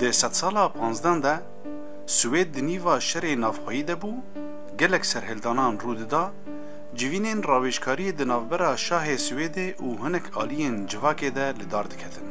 Di sedsala panzden de Swêd di nîva şerê navxweyî de bû, gelek serhildanan rû dida, civînên rawêjkariyê di navbera şahê Swêdê û hinek aliyên civakê de li dar diketin.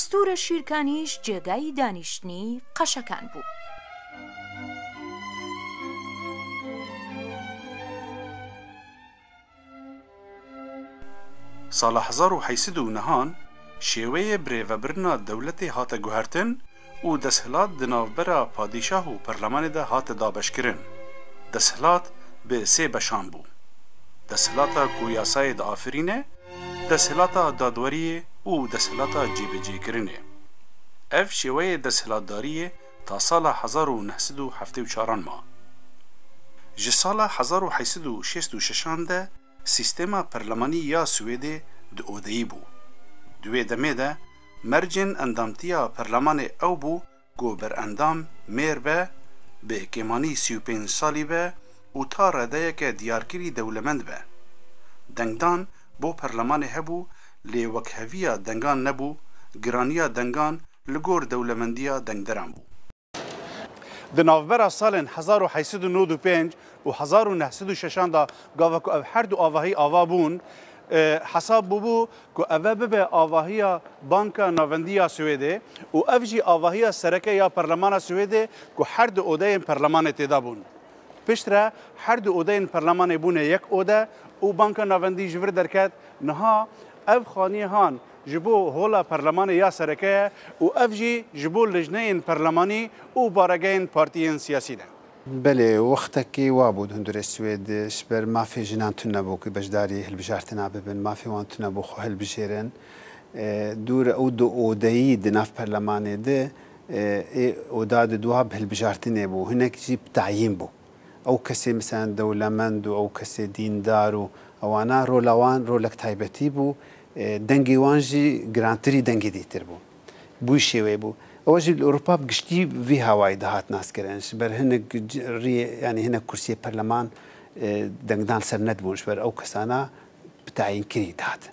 Stûra Şîrkanîş cêgayî danîştinî qeşekan bû. Sala hezar û heşt sed û nehan şêweyê birêvebirina dewletê hate guhertin û desthilat di navbera padîşah û perlemanê de hate dabeşkirin. Desthilat bi sê beşan bû. Desthilata ku yasayê diafirîne, Desthilata dadweriyê û desthilata cêbicêkirinê. Ev şêweyê desthilatdariyê ta sala hezar û neh sed û heftê û çaran ma. Ji sala hezar û heşt sed û şêst û şeşan de sîstema perlemanî ya Swêdê di odeyî bû. Di wê demê de mercên endamtiya perlemanê ew bû Ku berendam mêr be, bi kêmanî sî û pênc salî be û ta redeyeke diyarkirî dewlemend be. Dengdan bo perlemanê hebû lê wekheviya dengan nebû, giraniya dengan li gor dewlemendiya dengderan bû. Di navbera salên hezar û heysed û nod û pênc û hezar û neh sed û şeş an de gava ku ev her du avahî ava bûn, hesab bûbû ku ev e bibe avahiya Banka Navendî ya Swêdê û ev jî avahiya sereke ya Parlemana Swêdê ku her du odeyên Parlemanê têda bûn. Piştre her du odeyên Parlemanê bûne yek ode û Banka Navendî ji vir derket. Niha ev xaniyê han ji bo Hola Parlemanê ya sereke ye û ev jî ji bo lijneyên Parlemanî û baregehên partiyên siyasî ne. Belê, wextekî wa bû di hundirê Swêdê ji ber mafê jinan tune bû ku beşdarî hilbijartina bibin. Mafê wan tune bû xwe hilbijêrin. Dûr e û di odeyî di nav perlemanê de ê oda di dwab hilbijartinê bû. Hinek jî bi tayîn bû. Ew kesê miselen dewlemend û ew kesê dîndar û ewana rola wan rolek taybetî bû. Dengê wan jî girantirî dengê dîtir bû. bûy şêweyê bû. Ew jî li Ewropa bi giştî vî hawayî dihat naskirin. Ji ber hinek riyê yanî hinek kursiyê perleman dengdan ser nedibûn ji ber ew kesana bi tayînkirî dihatin.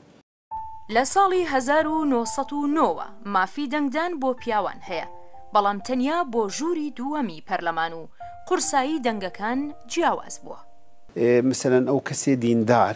Li salî hezar û neh sed û neh we mafî dengdan bo piyawan heye belam tenya bo jûrî dûwemî perleman û qursayî dengekan ciyawaz bûa. Miselan ew kesê dîndar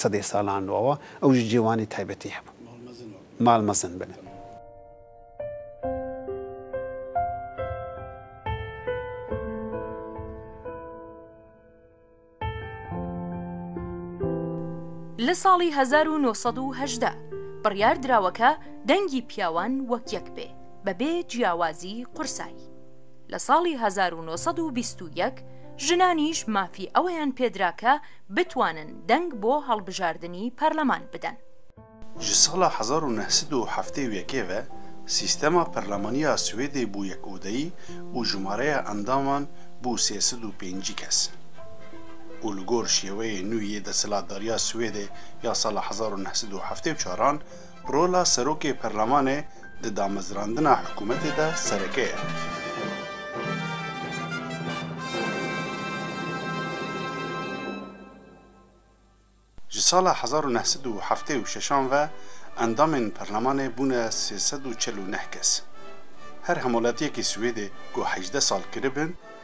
Sedê salan li awa ew jî cêwanê taybetî hebû. Mal mezin bine. Li salî hezar û nû sed û hejdeh biryar dirawe ke dengî piyawan wek yek bê be bê ciyawazî qursayî. Li salî hezar û nû sed û bîst û yek jinanîş mafî eweyan pê dira ke bitwanin deng bo hilbijardinî perleman bidin. Ji sala hezar û neh sed û heftê û yekê ve sîstema perlemanî ya Swêdê bû yek odeyî û jimareya endaman bû sê sed û pêncî kes. Û li gor şêweyê nû yê desthilatdariya Swêdê ya sala hezar û neh sed û heftê û çar an, Rola Serokê Perlemanê di damezrandina hikûmetê de sereke ye. Ji sala hezar û neh sed û heftê û şeş an ve endamên perlemanê bûne sê sed û çel û neh kes. Her hemoletiyekî Swêdê ku hejdeh sal kiribin,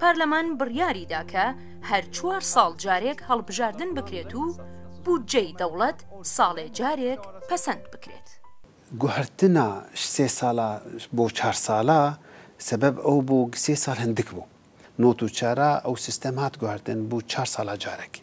Parleman biryarî da ke her çwar sal carêk hilbijardin bikrêt û bûdceyê dewlet salê carêk pesend bikrêt. Guhertina ji sê sala bo çar sala sebeb ew bû ke sê sal hindik bû. Not û çara ew sistem hat guhertin bû çar sala carek.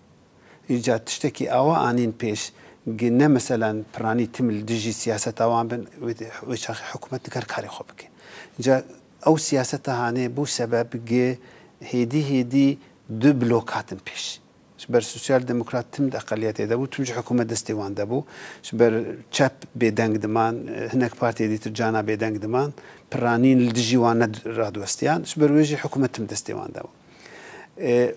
Îca tiştekî awa anîn pêş gi ne meselan piranî tim li dijî siyaseta wan bin, wê çaxê hikûmet diker karê xwe bike. Îca ew siyaseta hanê bû sebeb gi hêdî hêdî du blok hatin pêş. Ji ber sosyal demokrat tim di eqeliyetê de bû, tim ji hikûmet destê wan de bû. Ji ber çep bêdeng diman, hinek partiyê dîtir cana bêdeng diman. Piranîn li dijî wan ne radiwestiyan. Ji ber wê jî hikûmet tim destê wan de bû.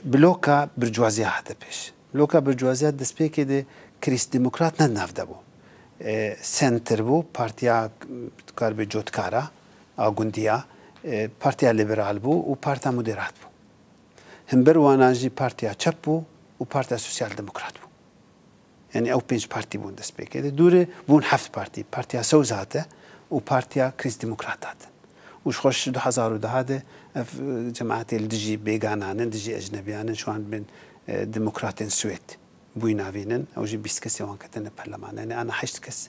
Bloka burjuaziya hate pêş. Bloka burjuaziya destpêkê de krîst-demokrat ne di nav de bû. Senter bû, partiya dikaribe cotkara a gundiya, partiya liberal bû û parta moderat bû. Himber wana jî partiya çep bû û partiya sosyal-demokrat bû. Yanî ew pênc partî bûn destpêkê. Di dûrê bûn heft partî. Partiya Sewz hate û Partiya Krîst Demokrat hatin. Û ji xweş ji du hezar û duha de ev cemaetê li dijî bêganan in, dijî ecnebiyan in, şiwan bên demokratên Swêd bûyî navînin. Ew jî bîst kesê wan ketine perleman. Yanî ana heşt kes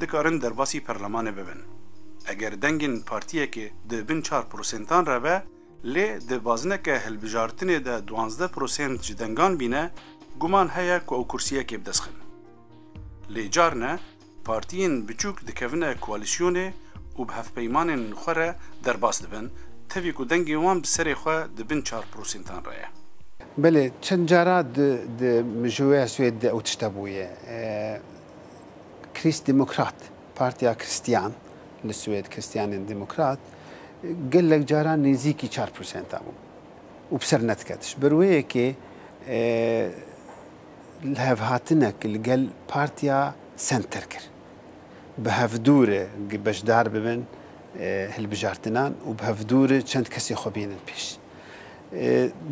Dikarin derbasî perlemanê bibin. Eger dengên partiyekê di bin çar prosentan re be, lê di bazineke hilbijartinê de duwazdeh prosent ji dengan bîne, guman heye ku ew kursiyekê bi dest xin. Lê carine partiyên biçûk dikevine koalîsyonê û bi hevpeymanên xwe re derbas dibin, tevî ku dengên wan bi serê xwe di bin çar prosentan re ye. Belê, çend cara di mijûeya Swêd de ew tişt hebûye. Krîstdemokrat, Partiya Kristiyan, li Swêd Kristiyanên Demokrat, gelek caran nêzîkî çar prosenta bû û bi ser nediket. Ji ber wê yekê lihevhatinek li gel Partiya Senter kir. Bi hevdû re beşdar bibin hilbijartinan û bi hevdû re çend kesê xwe bînin pêş.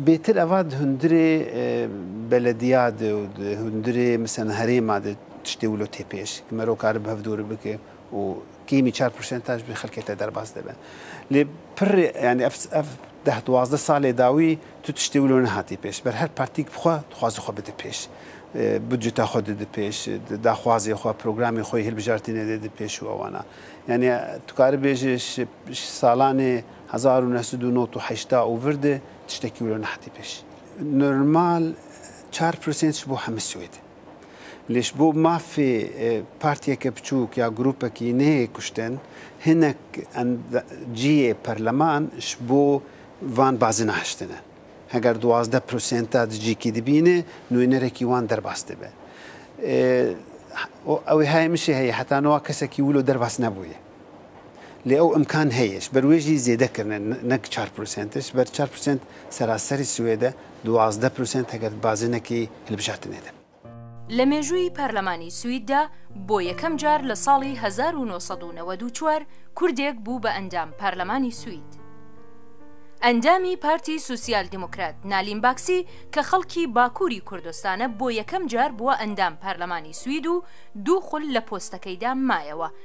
Bêtir eva di hundirê belediya de û di hundirê miselan herêma de tiştê wilo tê pêş. Ki mero kari bi hev dûri bike û kêmî çar prosentaj bi xelkê te derbas dibe. Lê pir yani ev ev deh duwazdeh salê dawî tu tiştê wilo nehatî pêş. Ber her partîk bi xwe dixwaze xwe bide pêş. Budceta xwe dide pêş, daxwazê xwe, programê xwe yê hilbijartinê dide pêş û ewana. Yani tu karibêje ji Ji salanê hezar û neh sed û nod û heştâ û vir de tiştekî wilo nehatî pêş. Normal çar prosent ji bo hemû Swêd e. Lê ji bo mafê partiyeke biçûk ya grûpekî neyê kuştin, hinek cihê perleman ji bo van bazin ahiştine. Heger duwazdeh prosenta di cihkî de bîne, nûyenerekî wan derbas dibe. Ew ê heye min jî heye, heta niha kesekî wilo derbas nebûye. Lê ew imkan heye, ji ber wê jî zêde kirine ne ki çar prosent e, ji ber çar prosent seraserî Swêd e, duwazdeh prosent heger di bazinekî hilbijartinê de. Li mêjûyî parlemanî Swîd de bo yekem car li salî hezar û nû sed û newed û çar Kurdêk bû bi endam parlemanî Swîd. Endamî Partî Sosyal Demokrat Nalîn Baksî ke xelkî Bakûrî Kurdistan e bo yekem car bûe endam parlemanî Swîd û dû xul li postekeyda mayewe.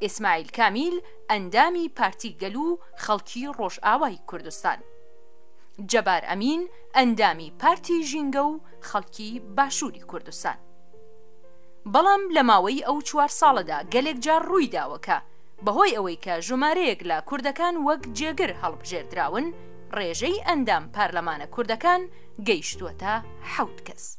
Îsmaîl Kamîl endamî Partî Gel û Xelkî Rojawayî Kurdistan, Cebar Emîn endamî Partî Jînge û Xelkî Başûrî Kurdistan. Belam li maweyî ew çwar sale de gelek car rûy dawe ke bi hoy ewê ke jomareyek le kurdekan wek cêgir hilbijêrdirawin rêjey endam parlemane kurdekan geyştwete hewt kes.